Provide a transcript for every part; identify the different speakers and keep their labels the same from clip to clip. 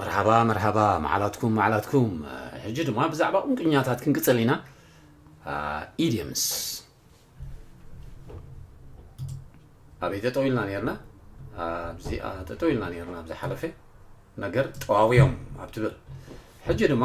Speaker 1: መርሓባ መርሓባ መዓላትኩም መዓላትኩም ሕጂ ድማ ብዛዕባ ቁንቁኛታት ክንቅጽል ኢና ኢድየምስ ኣበይ ጠጠው ኢልና ነርና ኣብዚኣ ጠጠው ኢልና ነርና ኣብ ዝሓለፈ ነገር ጠዋውዮም ኣብ ትብል ሕጂ ድማ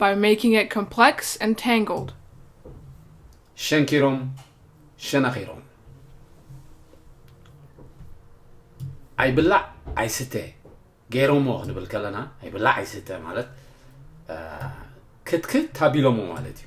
Speaker 2: By making it complex and tangled. ሸንኪሮም
Speaker 1: ሸነኺሮም። ኣይብላዕ ኣይስተ ገይሮሞ ክንብል ከለና ኣይብላዕ ኣይስተ ማለት ክትክት ኣቢሎሞ ማለት እዩ።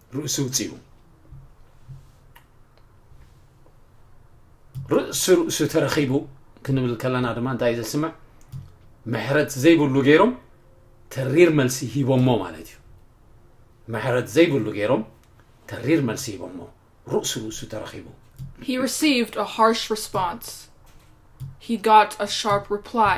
Speaker 2: ርእሲ
Speaker 1: ውጺኡ ርእሲ ርእሱ ተረኺቡ ክንብል ከለና ድማ እንታይ ዘስምዕ ምሕረት ዘይብሉ ገይሮም ተሪር መልሲ ሂቦሞ ማለት እዩ ምሕረት ዘይብሉ ገይሮም ተሪር መልሲ ሂቦሞ ርእሱ ርእሱ ተረኺቡ He received
Speaker 2: a harsh response. He got a sharp reply.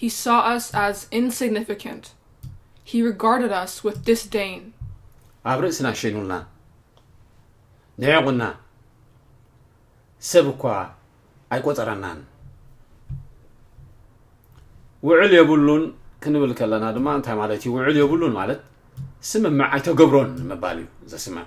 Speaker 2: He saw us as insignificant, He regarded us with disdain. ኣብ ርእስና
Speaker 1: ሸይኑልና ንዒቑና፣ ሰብ እኳ ኣይቈጸረናን። ውዕል የብሉን ክንብል ከለና ድማ እንታይ ማለት እዩ? ውዕል የብሉን ማለት ስምምዕ ኣይተገብሮን ምባል እዩ ዘስምዕ።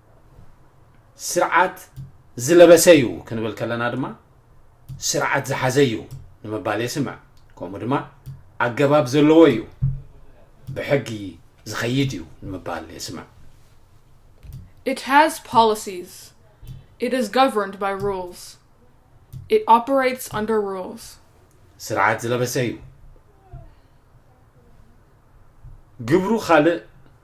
Speaker 1: ስርዓት ዝለበሰ እዩ ክንብል ከለና ድማ ስርዓት ዝሓዘ እዩ ንምባል የስምዕ ከምኡ ድማ ኣገባብ ዘለዎ እዩ ብሕጊ ዝኸይድ እዩ ንምባል የስምዕ
Speaker 2: It has policies. It is governed by rules. It operates under rules. ስርዓት
Speaker 1: ዝለበሰ እዩ ግብሩ ካልእ